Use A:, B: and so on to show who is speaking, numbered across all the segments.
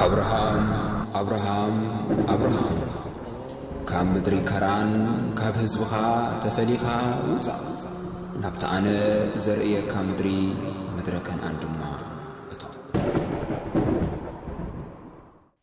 A: ኣብርሃም ኣብርሃም ኣብርሃም ካብ ምድሪ ከራን ካብ ህዝብኻ ተፈሊኻ ውጻእ ናብቲ ኣነ ዘርእየካ ምድሪ ምድረ ከነኣን ድማ እቶ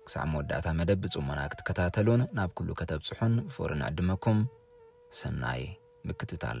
B: ክሳዕ መወዳእታ መደብ ብጽሞና ክትከታተሉን ናብ ኩሉ ከተብጽሑን ብፍቕሪ ንዕድመኩም። ሰናይ ምክትታል።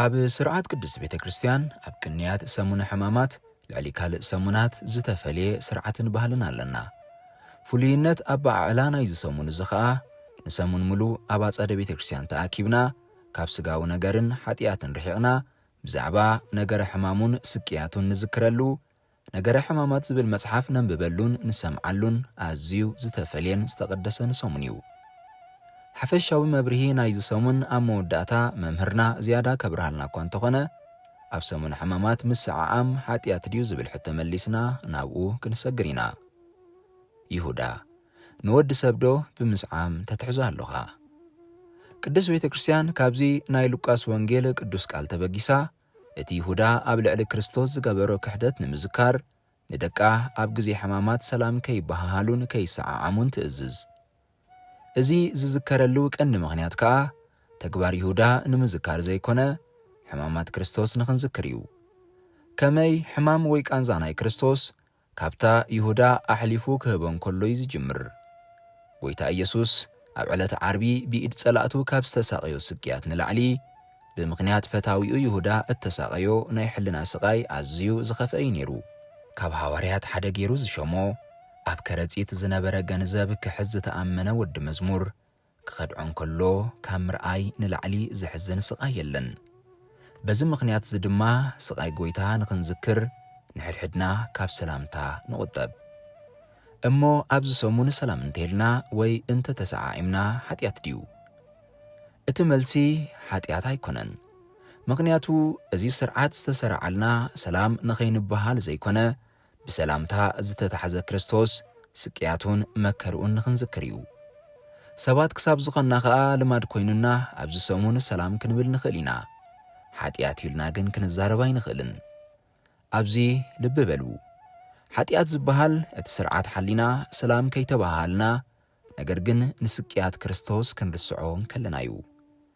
B: ኣብ ስርዓት ቅድስት ቤተ ክርስቲያን ኣብ ቅንያት ሰሙነ ሕማማት ልዕሊ ካልእ ሰሙናት ዝተፈልየ ስርዓትን ባህልን ኣለና። ፍሉይነት ኣበዓዕላ ናይዚ ሰሙን እዚ ኸኣ ንሰሙን ምሉእ ኣብ ኣጸደ ቤተ ክርስቲያን ተኣኪብና ካብ ስጋዊ ነገርን ሓጢኣትን ርሒቕና ብዛዕባ ነገረ ሕማሙን ስቅያቱን ንዝክረሉ ነገረ ሕማማት ዝብል መጽሓፍ ነንብበሉን ንሰምዓሉን ኣዝዩ ዝተፈልየን ዝተቐደሰን ሰሙን እዩ። ሓፈሻዊ መብርሂ ናይዚ ሰሙን ኣብ መወዳእታ መምህርና ዝያዳ ከብርሃልና እኳ እንተኾነ፣ ኣብ ሰሙነ ሕማማት ምስዕዓም ሓጥያት ድዩ ዝብል ሕቶ መሊስና ናብኡ ክንሰግር ኢና። ይሁዳ፣ ንወዲ ሰብዶ ብምስዓም ተትሕዞ ኣሎኻ? ቅድስት ቤተ ክርስቲያን ካብዚ ናይ ሉቃስ ወንጌል ቅዱስ ቃል ተበጊሳ፣ እቲ ይሁዳ ኣብ ልዕሊ ክርስቶስ ዝገበሮ ክሕደት ንምዝካር፣ ንደቃ ኣብ ግዜ ሕማማት ሰላም ከይበሃሃሉን ከይሰዓዓሙን ትእዝዝ። እዚ ዝዝከረሉ ቀንዲ ምኽንያት ከኣ፣ ተግባር ይሁዳ ንምዝካር ዘይኮነ፣ ሕማማት ክርስቶስ ንኽንዝክር እዩ። ከመይ ሕማም ወይ ቃንዛ ናይ ክርስቶስ ካብታ ይሁዳ ኣሕሊፉ ክህቦ እንከሎ እዩ ዝጅምር። ጐይታ ኢየሱስ ኣብ ዕለተ ዓርቢ ብኢድ ጸላእቱ ካብ ዝተሳቐዮ ስቅያት ንላዕሊ፣ ብምኽንያት ፈታዊኡ ይሁዳ እተሳቐዮ ናይ ሕልና ስቓይ ኣዝዩ ዝኸፍአ እዩ ነይሩ። ካብ ሃዋርያት ሓደ ገይሩ ዝሾሞ፣ ኣብ ከረጺት ዝነበረ ገንዘብ ክሕዝ ዝተኣመነ ወዲ መዝሙር፣ ክኸድዖ እንከሎ ካብ ምርኣይ ንላዕሊ ዘሕዝን ስቓይ የለን። በዚ ምኽንያት እዚ ድማ ስቓይ ጐይታ ንኽንዝክር ንሕድሕድና ካብ ሰላምታ ንቑጠብ። እሞ ኣብዚ ሰሙን ሰላም እንተይልና ወይ እንተ ተሰዓዒምና ሓጢኣት ድዩ? እቲ መልሲ ሓጢኣት ኣይኮነን። ምኽንያቱ እዚ ስርዓት ዝተሰርዓልና ሰላም ንኸይንበሃል ዘይኮነ ብሰላምታ ዝተታሕዘ ክርስቶስ ስቅያቱን መከርኡን ንኽንዝክር እዩ። ሰባት ክሳብ ዝኾንና ኸኣ ልማድ ኮይኑና ኣብዚ ሰሙን ሰላም ክንብል ንኽእል ኢና። ሓጢኣት እዩ ኢልና ግን ክንዛረብ ኣይንኽእልን። ኣብዚ ልቢ በሉ። ሓጢኣት ዝበሃል እቲ ስርዓት ሓሊና ሰላም ከይተበሃሃልና ነገር ግን ንስቅያት ክርስቶስ ክንርስዖ እንከለና እዩ።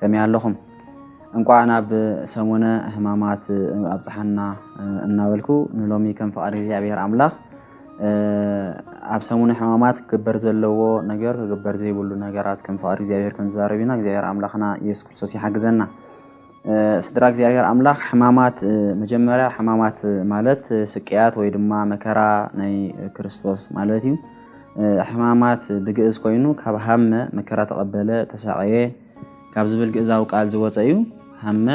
C: ከመይ ኣለኹም? እንቋዕ ናብ ሰሙነ ሕማማት ኣብጽሓና እናበልኩ ንሎሚ ከም ፍቓድ እግዚኣብሔር ኣምላኽ ኣብ ሰሙነ ሕማማት ክግበር ዘለዎ ነገር ክግበር ዘይብሉ ነገራት ከም ፍቓድ እግዚኣብሔር ክንዛረብ ኢና። እግዚኣብሔር ኣምላኽና ኢየሱስ ክርስቶስ ይሓግዘና። ስድራ እግዚኣብሔር ኣምላኽ ሕማማት መጀመርያ ሕማማት ማለት ስቅያት ወይ ድማ መከራ ናይ ክርስቶስ ማለት እዩ። ሕማማት ብግእዝ ኮይኑ ካብ ሃመ መከራ ተቐበለ ተሳቐየ ካብ ዝብል ግእዛዊ ቃል ዝወፀ እዩ። ሃመ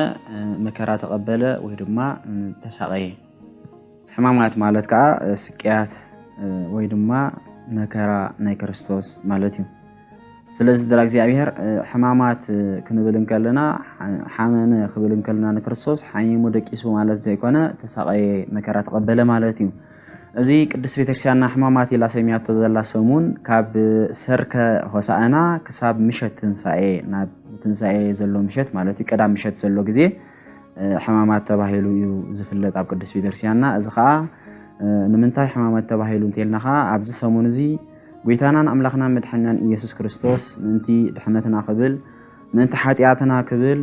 C: መከራ ተቐበለ ወይ ድማ ተሳቐየ። ሕማማት ማለት ከዓ ስቅያት ወይ ድማ መከራ ናይ ክርስቶስ ማለት እዩ። ስለዚ ስድራ እግዚኣብሔር ሕማማት ክንብል እንከለና ሓመመ ክብል እንከለና ንክርስቶስ ሓሚሙ ደቂሱ ማለት ዘይኮነ ተሳቐየ መከራ ተቐበለ ማለት እዩ። እዚ ቅድስት ቤተክርስቲያንና ሕማማት ኢላ ሰሚያቶ ዘላ ሰሙን ካብ ሰርከ ሆሳእና ክሳብ ምሸት ትንሳኤ ናብ ትንሳኤ ዘሎ ምሸት ማለት እዩ ቀዳም ምሸት ዘሎ ግዜ ሕማማት ተባሂሉ እዩ ዝፍለጥ ኣብ ቅድስት ቤተክርስቲያንና። እዚ ከዓ ንምንታይ ሕማማት ተባሂሉ እንተልና ከዓ ኣብዚ ሰሙን እዚ ጐይታናን ኣምላኽናን መድሐናን ኢየሱስ ክርስቶስ ምእንቲ ድሕነትና ክብል ምእንቲ ሓጢኣትና ክብል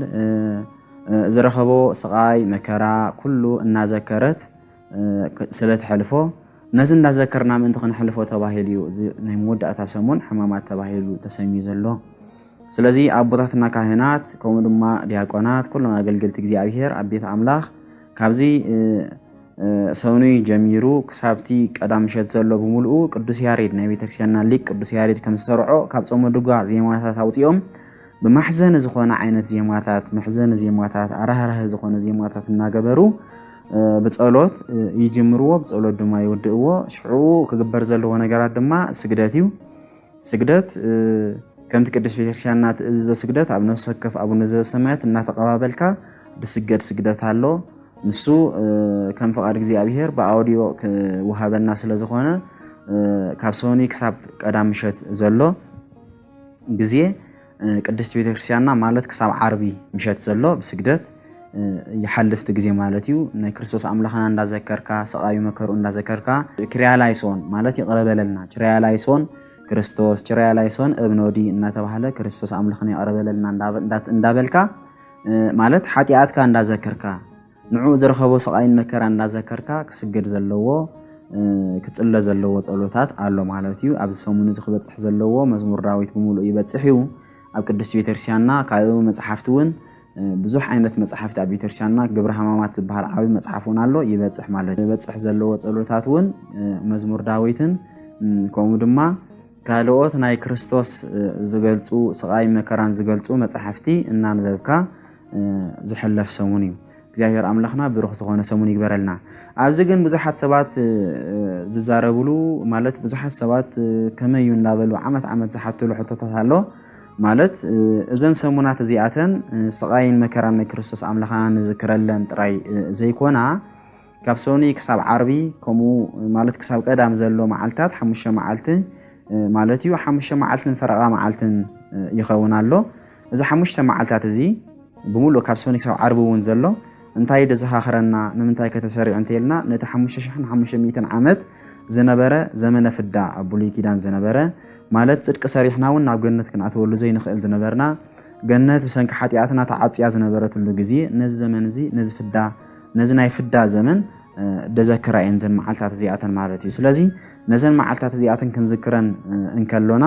C: ዝረኸቦ ስቓይ መከራ ኩሉ እናዘከረት ስለ ትሐልፎ ነዚ እንዳዘከርና ምእንቲ ክንሐልፎ ተባሂሉ እዩ እዚ ናይ መወዳእታ ሰሙን ሕማማት ተባሂሉ ተሰሚዩ ዘሎ። ስለዚ ኣቦታትና ካህናት ከምኡ ድማ ዲያቆናት ኩሎም ኣገልገልቲ እግዚኣብሔር ኣብ ቤት ኣምላኽ ካብዚ ሰኑይ ጀሚሩ ክሳብቲ ቀዳም ምሸት ዘሎ ብምልኡ ቅዱስ ያሬድ ናይ ቤተክርስቲያንና ሊቅ ቅዱስ ያሬድ ከም ዝሰርዖ ካብ ጾመ ድጓ ዜማታት ኣውፂኦም ብማሕዘኒ ዝኾነ ዓይነት ዜማታት መሕዘኒ ዜማታት ኣራህራህ ዝኾነ ዜማታት እናገበሩ ብፀሎት ይጅምርዎ ብፀሎት ድማ ይውድእዎ ሽዑ ክግበር ዘለዎ ነገራት ድማ ስግደት እዩ ስግደት ከምቲ ቅድስት ቤተክርስቲያንና ትእዝዞ ስግደት ኣብ ነፍሲ ወከፍ ኣቡነ ዘበሰማያት እናተቐባበልካ ዝስገድ ስግደት ኣሎ። ንሱ ከም ፍቓድ እግዚኣብሄር ብኣውዲዮ ክወሃበና ስለ ዝኾነ ካብ ሰኒ ክሳብ ቀዳም ምሸት ዘሎ ግዜ ቅድስት ቤተክርስቲያንና ማለት ክሳብ ዓርቢ ምሸት ዘሎ ብስግደት ይሓልፍ እቲ ግዜ ማለት እዩ ናይ ክርስቶስ ኣምላኽና እንዳዘከርካ ስቓዩ መከርኡ እንዳዘከርካ ክርያላይሶን ማለት ይቕረበለልና ችርያላይሶን ክርስቶስ ችርያላይሶን እብኖዲ እናተባህለ ክርስቶስ ኣምላኽና ይቕረበለልና እንዳበልካ ማለት ሓጢኣትካ እንዳዘከርካ ንዕኡ ዝረኸቦ ስቓይን መከራን እናዘከርካ ክስገድ ዘለዎ ክጽለ ዘለዎ ጸሎታት ኣሎ ማለት እዩ። ኣብዚ ሰሙን እዚ ክበጽሕ ዘለዎ መዝሙር ዳዊት ብምሉእ ይበጽሕ እዩ ኣብ ቅድስቲ ቤተክርስቲያንና። ካልእ መጽሓፍቲ እውን ብዙሕ ዓይነት መጽሓፍቲ ኣብ ቤተክርስቲያንና ግብረ ሕማማት ዝበሃል ዓብዪ መጽሓፍ እውን ኣሎ ይበጽሕ ማለት እዩ። ይበጽሕ ዘለዎ ጸሎታት እውን መዝሙር ዳዊትን ከምኡ ድማ ካልኦት ናይ ክርስቶስ ዝገልጹ ስቓይ መከራን ዝገልጹ መጽሓፍቲ እናንበብካ ዝሕለፍ ሰሙን እዩ። እግዚኣብሔር ኣምላኽና ብሩኽ ዝኾነ ሰሙን ይግበረልና። ኣብዚ ግን ብዙሓት ሰባት ዝዛረብሉ ማለት ብዙሓት ሰባት ከመይ እዩ እናበሉ ዓመት ዓመት ዝሓትሉ ሕቶታት ኣሎ ማለት እዘን ሰሙናት እዚኣተን ስቓይን መከራን ናይ ክርስቶስ ኣምላኽና ንዝክረለን ጥራይ ዘይኮና ካብ ሰኒ ክሳብ ዓርቢ ከምኡ ማለት ክሳብ ቀዳም ዘሎ መዓልትታት ሓሙሽተ መዓልቲ ማለት እዩ ሓሙሽተ መዓልትን ፈረቓ መዓልትን ይኸውን ኣሎ እዚ ሓሙሽተ መዓልታት እዚ ብምሉእ ካብ ሰኑይ ክሳብ ዓርቢ እውን ዘሎ እንታይ ደዘኻኽረና ንምንታይ ከተሰሪዑ እንተይልና ነቲ ሓሙሽተ ሽሕን ሓሙሽተ ሚእትን ዓመት ዝነበረ ዘመነ ፍዳ ኣብ ብሉይ ኪዳን ዝነበረ ማለት ጽድቂ ሰሪሕና እውን ናብ ገነት ክንኣትወሉ ዘይንኽእል ዝነበርና ገነት ብሰንኪ ሓጢኣትና ተዓፅያ ዝነበረትሉ ግዜ ነዚ ዘመን እዚ ነዚ ፍዳ ነዚ ናይ ፍዳ ዘመን ደዘክራ እየን ዘን መዓልታት እዚኣተን ማለት እዩ ስለዚ ነዘን መዓልታት እዚኣተን ክንዝክረን እንከሎና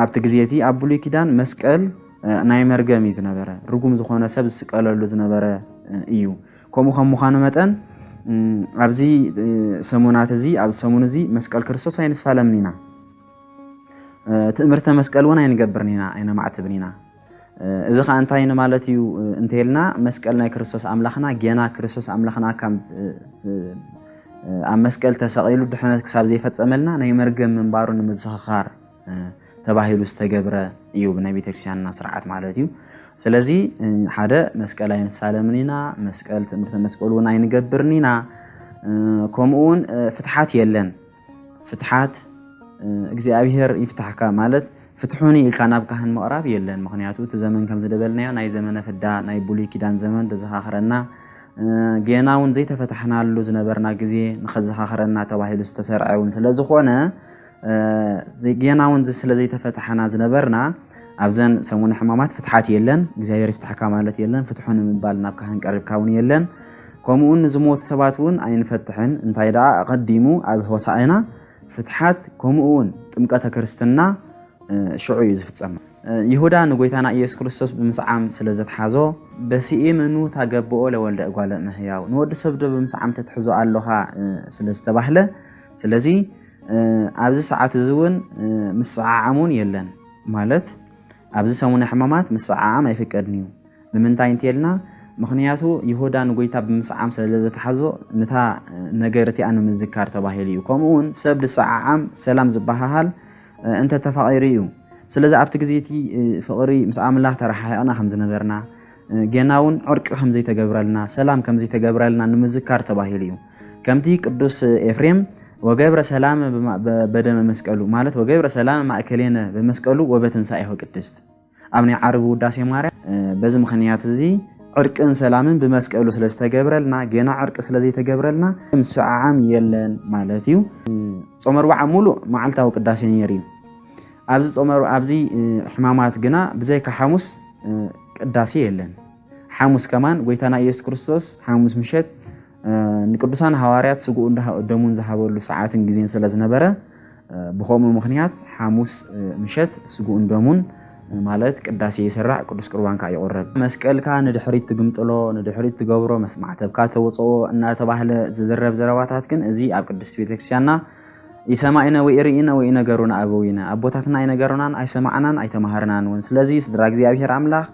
C: ኣብቲ ግዜ እቲ ኣብ ብሉይ ኪዳን መስቀል ናይ መርገም እዩ ዝነበረ ርጉም ዝኾነ ሰብ ዝስቀለሉ ዝነበረ እዩ ከምኡ ከም ምዃኑ መጠን ኣብዚ ሰሙናት እዚ ኣብ ሰሙን እዚ መስቀል ክርስቶስ ኣይንሳለምን ኢና ትእምርተ መስቀል እውን ኣይንገብርን ኢና ኣይነማዕትብን ኢና እዚ ከኣ እንታይ ንማለት እዩ እንተልና መስቀል ናይ ክርስቶስ ኣምላኽና ጌና ክርስቶስ ኣምላኽና ካብ ኣብ መስቀል ተሰቒሉ ድሕነት ክሳብ ዘይፈጸመልና ናይ መርገም ምንባሩ ንምዝኽኻር ተባሂሉ ዝተገብረ እዩ ብናይ ቤተክርስትያንና ስርዓት ማለት እዩ ስለዚ ሓደ መስቀል ኣይንሳለምን ኢና መስቀል ትምህርተ መስቀል እውን ኣይንገብርን ኢና ከምኡ እውን ፍትሓት የለን ፍትሓት እግዚኣብሔር ይፍታሕካ ማለት ፍትሑኒ ኢልካ ናብ ካህን ምቕራብ የለን። ምክንያቱ እቲ ዘመን ከም ዝደበልናዮ ናይ ዘመነ ፍዳ ናይ ብሉይ ኪዳን ዘመን ዘዘኻኽረና ጌና እውን ዘይተፈታሕናሉ ዝነበርና ግዜ ንኸዘኻኽረና ተባሂሉ ዝተሰርዐ እውን ስለ ዝኾነ ጌና እውን ስለ ዘይተፈታሕና ዝነበርና ኣብዘን ሰሙነ ሕማማት ፍትሓት የለን። እግዚኣብሔር ይፍታሕካ ማለት የለን። ፍትሑን ምባል ናብ ካህን ቀሪብካ እውን የለን። ከምኡውን ንዝሞቱ ሰባት እውን ኣይንፈትሕን፣ እንታይ ደኣ ኣቐዲሙ ኣብ ሆሳእና ፍትሓት ከምኡውን ጥምቀተ ክርስትና ሽዑ እዩ ዝፍጸም። ይሁዳ ንጎይታና ኢየሱስ ክርስቶስ ብምስዓም ስለ ዘትሓዞ በሲኢምኑ ታገብኦ ለወልደ እጓለ እመሕያው ንወዲ ሰብ ዶ ብምስዓም ተትሕዞ ኣሎኻ ስለ ዝተባህለ ስለዚ ኣብዚ ሰዓት እዚ እውን ምስዓዓም እውን የለን ማለት ኣብዚ ሰሙነ ሕማማት ምስዓዓም ኣይፍቀድን እዩ። ንምንታይ እንተልና ምኽንያቱ ይሁዳ ንጎይታ ብምስዓም ሰለዘተሓዞ ንታ ነገር እቲኣ ንምዝካር ተባሂሉ እዩ ከምኡ ውን ሰብ ዝሰዓዓም ሰላም ዝበሃሃል እንተ ተፋቒሩ እዩ ስለዚ ኣብቲ ግዜ እቲ ፍቕሪ ምስ ኣምላኽ ተረሓሒቕና ከም ዝነበርና ገና እውን ዕርቂ ከም ዘይተገብረልና ሰላም ከም ዘይተገብረልና ንምዝካር ተባሂሉ እዩ ከምቲ ቅዱስ ኤፍሬም ወገብረ ሰላም በደመ መስቀሉ ማለት ወገብረ ሰላም ማእከሌነ በመስቀሉ ወበትንሳኤሁ ቅድስት ኣብ ናይ ዓርቢ ውዳሴ ማርያም በዚ ምኽንያት እዚ ዕርቅን ሰላምን ብመስቀሉ ስለ ዝተገብረልና ገና ዕርቂ ስለ ዘይተገብረልና ምስዕዓም የለን ማለት እዩ። ጾመ ኣርብዓ ሙሉእ መዓልታዊ ቅዳሴ ነይሩ እዩ። ኣብዚ ጾመ ኣብዚ ሕማማት ግና ብዘይካ ሓሙስ ቅዳሴ የለን። ሓሙስ ከማን ጎይታና ኢየሱስ ክርስቶስ ሓሙስ ምሸት ንቅዱሳን ሃዋርያት ስግኡን ደሙን ዝሃበሉ ሰዓትን ግዜን ስለ ዝነበረ ብከምኡ ምክንያት ሓሙስ ምሸት ስግኡን ደሙን ማለት ቅዳሴ ይስራዕ፣ ቅዱስ ቁርባን ከዓ ይቑረብ። መስቀልካ ንድሕሪት ትግምጥሎ፣ ንድሕሪት ትገብሮ፣ መስማዕተብካ ተውፅኦ እናተባህለ ዝዝረብ ዘረባታት ግን እዚ ኣብ ቅድስት ቤተክርስቲያንና ይሰማኢነ ወይ ርኢነ ወይ ነገሩና ኣበዊነ ኣቦታትና ኣይነገሩናን ኣይሰማዕናን ኣይተማሃርናን እውን። ስለዚ ስድራ እግዚኣብሔር ኣምላኽ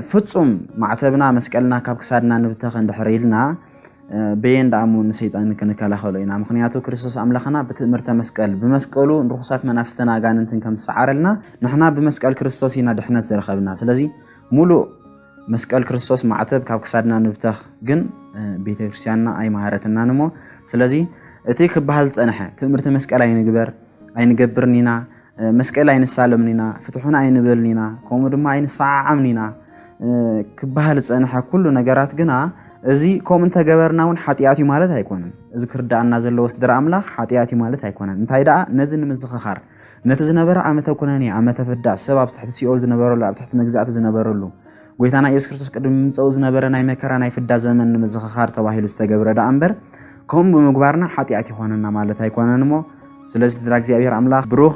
C: ፍጹም ማዕተብና መስቀልና ካብ ክሳድና ንብተኽ እንድሕር ኢልና በየን ደኣ እሞ ንሰይጣን ክንከላኸሎ ኢና ምክንያቱ ክርስቶስ ኣምላኽና ብትእምርተ መስቀል ብመስቀሉ ንርኹሳት መናፍስትን ኣጋንንትን ከም ዝሰዓረልና ንሕና ብመስቀል ክርስቶስ ኢና ድሕነት ዝረኸብና ስለዚ ሙሉእ መስቀል ክርስቶስ ማዕተብ ካብ ክሳድና ንብተኽ ግን ቤተ ክርስቲያንና ኣይመሃረትናን እሞ ስለዚ እቲ ክበሃል ዝፀንሐ ትእምርቲ መስቀል ኣይንግበር ኣይንገብርን ኢና መስቀል ኣይንሳለምን ኢና፣ ፍትሑና ኣይንበልን ኢና፣ ከምኡ ድማ ኣይንሰዓዓምን ኢና ክበሃል ዝፀንሐ ኩሉ ነገራት ግና እዚ ከምኡ እንተገበርና እውን ሓጢኣት እዩ ማለት ኣይኮነን። እዚ ክርዳኣና ዘለዎ ስድራ ኣምላኽ ሓጢኣት እዩ ማለት ኣይኮነን። እንታይ ደኣ ነዚ ንምዝኽኻር ነቲ ዝነበረ ዓመተ ኩነኔ ዓመተ ፍዳ ሰብ ኣብ ትሕቲ ሲኦል ዝነበረሉ ኣብ ትሕቲ መግዛእቲ ዝነበረሉ ጎይታና ኢየሱስ ክርስቶስ ቅድሚ ምምፀኡ ዝነበረ ናይ መከራ ናይ ፍዳ ዘመን ንምዝኽኻር ተባሂሉ ዝተገብረ ደኣ እምበር ከምኡ ብምግባርና ሓጢኣት ይኾነና ማለት ኣይኮነን እሞ ስለዚ ስድራ እግዚኣብሔር ኣምላኽ ብሩኽ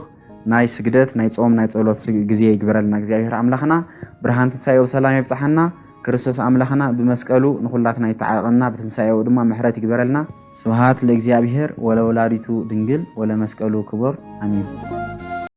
C: ናይ ስግደት ናይ ጾም ናይ ጸሎት ግዜ ይግበረልና እግዚኣብሔር ኣምላኽና ብርሃን ትንሳኤው ሰላም የብጽሓና ክርስቶስ ኣምላኽና ብመስቀሉ ንኹላትና ይተዓረቐና ብትንሳኤው ድማ ምሕረት ይግበረልና ስብሃት ለእግዚኣብሔር ወለወላዲቱ ድንግል ወለመስቀሉ ክቡር ኣሜን